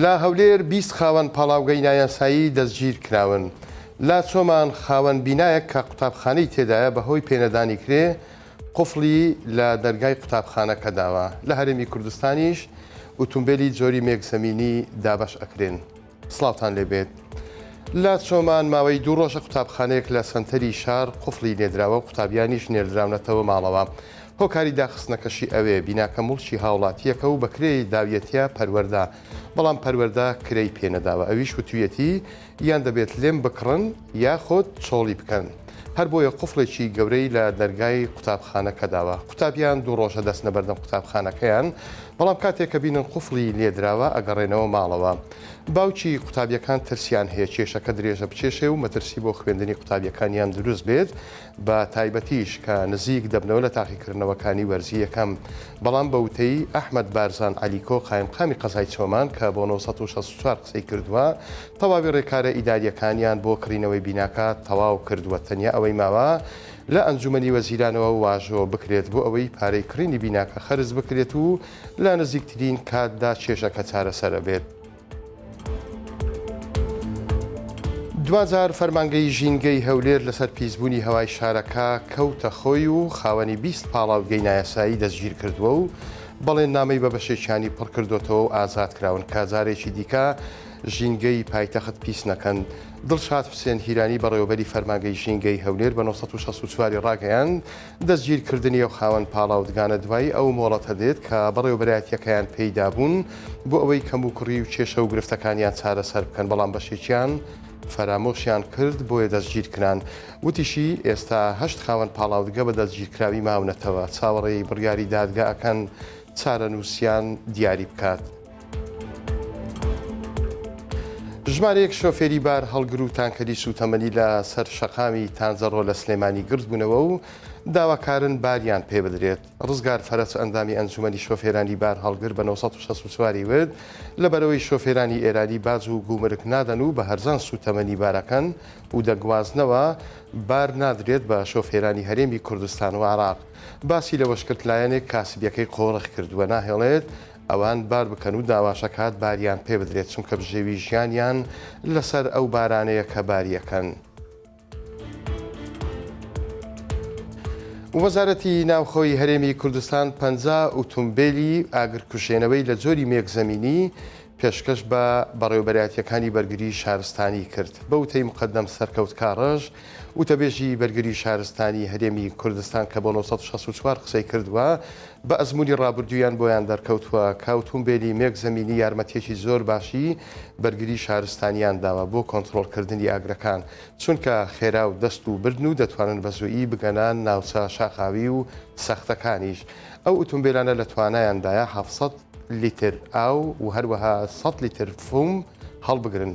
لە هەولێر بیست خاوەن پاڵاوگەی نایاسایی دەستگیرکراون. لە چۆمان خاوەن بینایەک کە قوتابخانەی تێدایە بەهۆی پێنەدانی کرێ قفڵی لە دەرگای قوتابخانەکە داوە. لە هەرێمی کوردستانیش ئوتومبێلی جۆری مێک زەمینی دابەش ئەکرێن. سڵاوتان لێبێت لە چۆمان ماوەی دوو ڕۆژە قوتابخانەیەک لە سەنتەری شار قفڵی نێدراوە و قوتابیانیش نێردراونەتەوە ماڵەوە هۆکاری داخستنەکەشی ئەوێ بیناکە مڵکی هاوڵاتیەکە و بەکرێ داویەتە پەروەەردە بەڵام پەروەەردە کرەی پێنەداوە ئەویش وتویەتی یان دەبێت لێم بکڕن یاخود چۆڵی بکەن، هەربۆیە قفڵێکی گەورەی لە دەرگای قوتابخانەکە داوە، قوتابیان دوو ڕۆژە دەچنە بەردەم قوتابخانەکەیان، بەڵام کاتێک کە بینن قفڵی لێدراوە ئەگەڕێنەوە ماڵەوە، باوکی قوتابیەکان ترسیان هەیە کێشەکە درێژە بکێشێ و مەترسی بۆ خوێندنی قوتابیەکانیان دروست بێت، بە تایبەتیش کە نزیک دەبنەوە لە تاقیکردنەوەکانی وەرزی یەکەم. بەڵام بە وتەی، ئەحمەد بارزان عەلیکۆ، قایمقامی قەزای چۆمان کە بۆ نۆ سەد و شەست و چوار قسەی کردووە، تەواوی رێکارە ئیدارییەکانیان بۆ کڕینەوەی بیناکە تەواو کردووە، تەنیا ئەوەی ماوە لە ئەنجوومەنی وەزیرانەوە واژۆ بکرێت بۆ ئەوەی پارەی کڕینی بیناکە خەرج بکرێت و لە نزیکترین کاتدا کێشەکە چارەسەرەبێت. دواجار فەرمانگەی ژینگەی هەولێر لەسەر پیسبوونی هەوای شارەکە کەوتە خۆی و خاوەنی بیست پاڵاوگەی نایاسایی دەستگیرکردووە و بەڵێننامەی بە بەشێکیانی پڕکردۆتەوە و ئازاد کراون کە جارێکی دیکە ژینگەی پایتەخت پیس نەکەن دڵشاد حسێن هیرانی بەڕێوەبەری فەرمانگەی ژینگەی هەولێر بە 1964 ڕاگەیاند دەستگیرکردنی ئەو خاوەن پاڵاوتگانە دوای ئەو مۆڵەتە دێت کە بەڕێوەبەرایەتییەکەیان پێی دابوون بۆ ئەوەی کەموکوڕی و کێشە و گرفتەکانیان چارەسەر بکەن، بەڵام بەشێکیان فەرامۆشیان کرد بۆیە دەستگیرکران. وتیشی، ئێستا هەشت خاوەن پاڵاوتگە بە دەستگیرکراوی ماونەتەوە، چاوەڕێی بڕیاری دادگا ئەکەن چارەنووسیان دیاری بکات. ژمارەیەک شۆفێری بار هەڵگر و تانکەری سووتەمەنی لە سەر شەقامی تانزەڕۆ لە سلێمانی گردبوونەوە و داواکارن باریان پێ بدرێت ڕزگار فەرەس ئەندامی ئەنجومەنی شۆفێرانی بار هەڵگر بە 1964 ورد لە بەرەوەی شۆفێرانی ئێرانی باج و گومرک نادەن و بە هەرزان سووتەمەنی بارەکەن و دەگوازنەوە بار نادرێت بە شۆفێرانی هەرێمی کوردستان و عراق باسی لەوەشکرد لایەنێک کاسبیەکەی قۆڕخ کردووە ناهێڵێت ئەوان بار بکەن و داواشەکات باریان پێ بدرێت چونکە بژێوی ژیانیان لەسەر ئەو بارانەیە کە باریەکەن. وەزارەتی ناوخۆی هەرێمی کوردستان پەنجا ئوتومبێلی ئاگرکوژێنەوەی لە جۆری مێک زەمینی پێشکەش بە بەڕێوەبەرایەتییەکانی بەرگری شارستانی کرد. بەوتەی مقەدەم سەرکەوت کاڕەژ، وتەبێژی بەرگری شارستانی هەرێمی کوردستان کە بۆ نۆ سەد و شەست و چوار قسەی کردووە، بە ئەزموونی ڕابردوویان بۆیان دەرکەوتووە کە ئوتومبێلی مێک زەمینی یارمەتییەکی زۆر باشی بەرگری شارستانیان داوە بۆ کۆنترۆڵکردنی ئاگرەکان، چونکە خێرا و دەست و بردن و دەتوانن بە زوویی بگەنە ناوچە شاخاوی و سەختەکانیش. ئەو ئوتومبێلانە لە توانایاندایە حەفت سەد لیتر ئاو و هەروەها سەد لیتر فوم هەڵبگرن.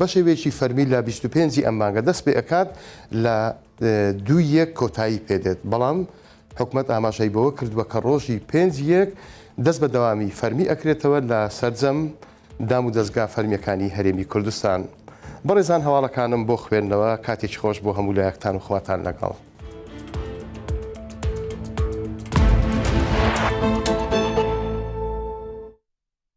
بەشێوەیەکی فەرمی لە بیست و پێنج ی ئەم مانگە دەست پێئەکات لە دوو ی یەک کۆتایی پێدێت، بەڵام حکومەت ئاماژەی بەوە کردووە کە ڕۆژی پێنج ی یەک دەست بە دەوامی فەرمی ئەکرێتەوە لە سەرجەم دام و دەزگا فەرمیەکانی هەرێمی کوردستان. بەڕێزان هەواڵەکانم بۆ خوێندنەوە، کاتێکی خۆش بۆ هەموو لایەکتان و خواتان لەگەڵ.